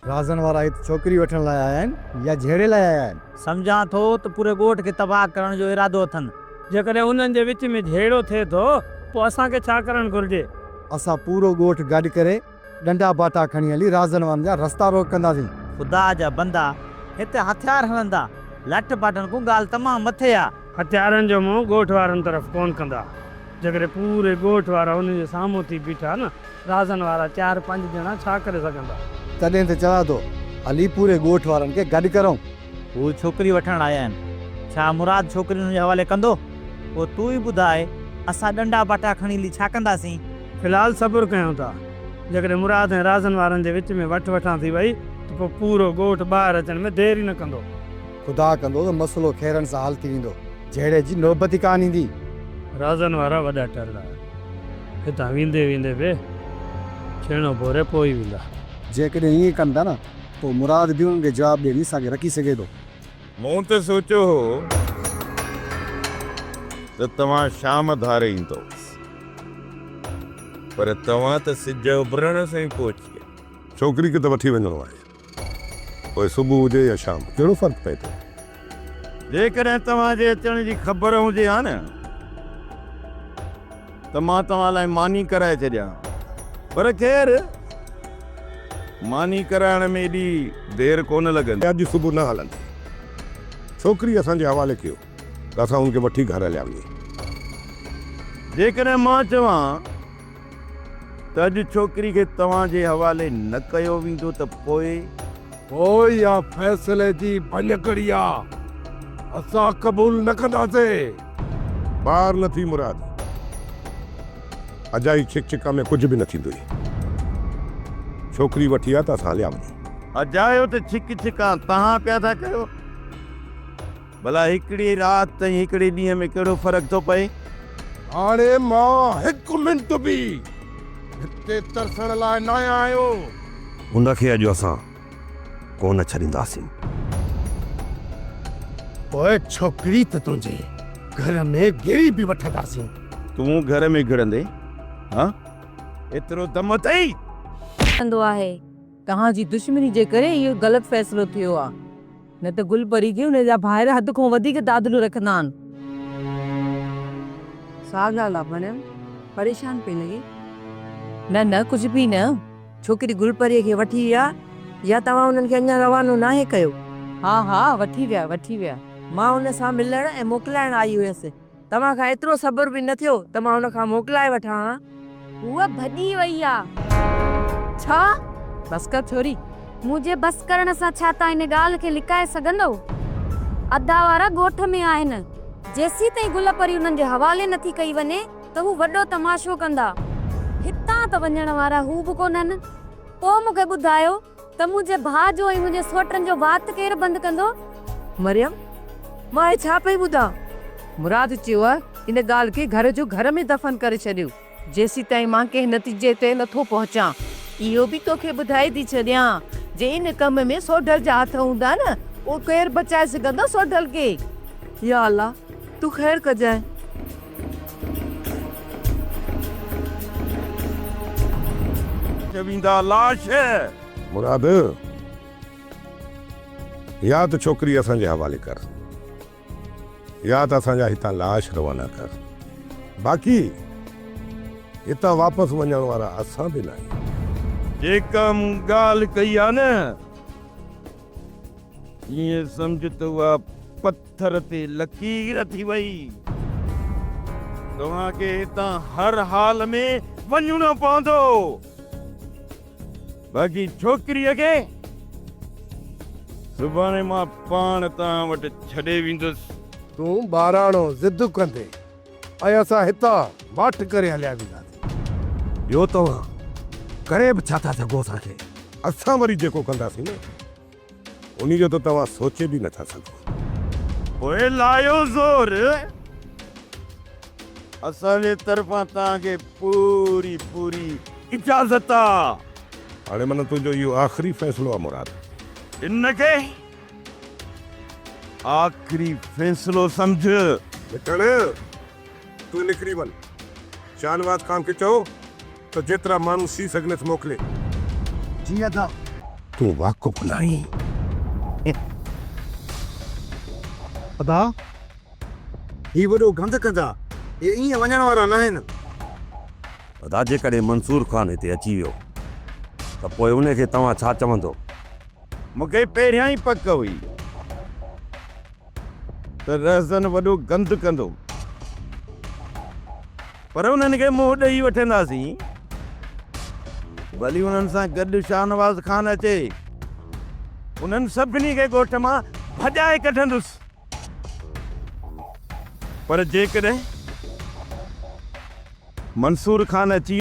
رازن وارا هت ڇوڪري وٺڻ لاء آيا آهن يا جهيڙي لاء آيا آهن؟ سمجهان ٿو ته پوري ڳوٺ کي تباهه ڪرڻ جو ارادو اٿن. جيڪڏهن انهن جي وچ ۾ جهيڙو ٿئي ٿو پوء اسان کي ڇا ڪرڻ گهرجي؟ اسان پورو ڳوٺ گڏ ڪري ڏنڊا ٻاٽا کڻي هلي رازن وارن جا رستا روڪ ڪنداسين. خدا جا بندا هتي هٿيار هڻندا لٺ ٻاٽن ڪون ڳالهه تمام مٿي آ. هٿيارن جو منهن ڳوٺ وارن طرف ڪونه ڪندا. جيڪڏهن پوري ڳوٺ وارا انهن جي سامهون ٿي بيٺا نه رازن وارا چار پنج ڄڻا ڇا ڪري سگهندا. تڏهن ته چوان ٿو هلي پوري ڳوٺ وارن کي گڏ ڪرون. هو ڇوڪري وٺڻ آيا آهن. ڇا مراد ڇوڪري هن جي حوالي ڪندو؟ پوء تون ئي ٻڌاء اسان ڏنڊا باٽا کڻي هلي ڇا ڪنداسين؟ في الحال صبر ڪيون ٿا. جيڪڏهن مراد ۽ رازن وارن جي وچ ۾ وٺ وٺان ٿي وئي ته پوء پورو ڳوٺ ٻاهر اچڻ ۾ دير ئي نه ڪندو. خدا ڪندو ته مسئلو خيرن سان حل ٿي ويندو. جهيڙي جي نوبت ئي ڪانه ايندي. رازن وارا وڏا ٽرڙا هتان ويندي ويندي به ڇيڻو ڀوري پوئي ويندا. جيڪڏهن ائين ڪن ٿا نه پوء مراد به انهن کي جواب ڏيڻي اسان کي رکي سگهي ٿو. مون ته سوچيو هو ته توهان شام ڌاري ايندؤ پر توهان ته سج اڀرڻ سان ئي پهچي ويا. ڇوڪري کي ته وٺي وڃڻو آهي. پوء صبح هجي يا شام ڪهڙو فرق پئي ٿو؟ جيڪڏهن توهان جي اچڻ جي خبر هجي ها نه ته مان توهان لاء ماني ڪرائي ڇڏيان ها. پر خير ماني ڪرائڻ ۾ ايڏي دير ڪونه لڳندي. اڄ صبح نه هلندي. ڇوڪري اسان جي حوالي ڪيو ته اسان هن کي وٺي گهر هليا وڃون. جيڪڏهن مان چوان. ته اڄ ڇوڪري کي توهان جي حوالي نه ڪيو ويندو ته پوء؟ پوء اها فيصلي جي ڀڃڪڙي آ، اسان قبول نه ڪنداسين. بار نه ٿي مراد، اجائي ڇڪ ڇڪ ۾ ڪجهه به نه ٿيندوئي. ڇوڪري وٺي آ ته اسان هليا وڃون. اجايو ته ڇڪ ڇڪان تهان پيا ٿا ڪيو. ڀلا هڪڙي رات ۽ هڪڙي ڏينهن ۾ ڪهڙو فرق ٿو پئي؟ هاڻي مان هڪ منٽ به هتي ترسڻ لاء ناهيان آيو. هن کي اڄ اسان ڪونه ڇڏينداسين. پوء ڇوڪري ته تنهنجي گهر ۾ گهڙي به وٺنداسين. تون گهر ۾ گهڙندين؟ ها! ايترو دم اٿئي؟ ڪندو آهي. توهان جي دشمني جي ڪري اهو غلط فيصلو ٿيو آهي، نه ته گل پري کي ان جا ڀائر حد کان وڌيڪ تعادل رکندا آهن. سا ڳالهه آهي ڀڻيو پريشان پئي لڳي. نه نه ڪجهه به نه، ڇوڪري گل پريء کي وٺي ويا يا توهان انهن کي اڃا روانو ناهي ڪيو؟ ها ها وٺي ويا وٺي ويا، مان ان سان ملڻ ۽ موڪلائڻ آئي هيس. توهان کان ايترو صبر به نه ٿيو ته مان هن کان موڪلائي وٺان ها. هوء ڀڄي وئي آ. ڇا؟ بس ڪر ڇوري. مون جي بس ڪرڻ سان ڇا تون ان ڳالهه کي لڪائي سگهندو؟ ادا وارا ڳوٺ ۾ آهن. جيسين تائين گل پري انهن جي حوالي نه ٿي ڪئي وڃي ته هو وڏو تماشو ڪندا. هتان ته وڃڻ وارا هو به ڪونهن. تو مون کي ٻڌايو. ته منهنجي ڀاء جو ۽ منهنجي سوٽن جو وات ڪير بند ڪندو؟ مريم، مان هي ڇا پئي ٻڌان؟ مراد چيو ها ان ڳالهه کي گهر جو گهر ۾ دفن ڪري ڇڏيو، جيسيتائين مان ڪنهن نتيجي تي نٿو پهچان. اهو به توکي ٻڌائي ٿي ڇڏيان، جي ان ڪم ۾ سوڍل جا هٿ هوندا نه، پوء ڪير بچائي سگهندو سوڍل کي؟ يا الله! تون خير ڪجانء. ٿي ويندا لاش. مراد! يا ته ڇوڪري اسان جي حوالي ڪر يا ته اسان جا هتان لاش روانا ڪر. باقي هتان واپس وڃڻ وارا اسان به ناهيون. جيڪا مون ڳالهه ڪئي آهي نه، ائين سمجهه ته اها پڪي. ٿر تي لڪير ٿي وئي. توهان کي هتان هر حال ۾ وڃڻو پوندو. باقي ڇوڪريء کي سڀاڻي مان پاڻ توهان وٽ ڇڏي ويندس. تون ٻاراڻو ضد ڪندي ۽ اسان هتان ماٺ ڪري هليا وينداسين. ٻيو توهان ڪري به ڇا ٿا سگهو اسان کي؟ اسان وري جيڪو ڪنداسين نه. انهي جو ته توهان سوچي به نه ٿا سگهو. پوء لايو زور، اسان جي طرفان توهان کي پوري پوري اجازت آ. هاڻي معنيٰ تنهنجو اهو آخري فيصلو آ مراد؟ ان کي آخري فيصلو سمجهه. مٺاڻ، تون نڪري وڃ. شاهنواز خان کي چئو. ته جيترا ماڻهو سي سگهنس موڪلي. جي ادا. تون واقف ناهين. ادا. هي وڏو گند ڪندا. هي ائين وڃڻ وارا ناهن. ادا جيڪڏهن منصور خان هتي اچي ويو ته پوء ان کي توهان ڇا چوندو؟ مون کي پهريان ئي پڪ هئي. ته رهزن وڏو گند ڪندو، پر انهن کي منهن ڏئي وٺنداسين، ڀلي انهن سان گڏ شاهنواز خان اچي، انهن سڀني کي ڳوٺ مان ڀڄائي ڪڍندس، پر جيڪڏهن منصور خان اچي.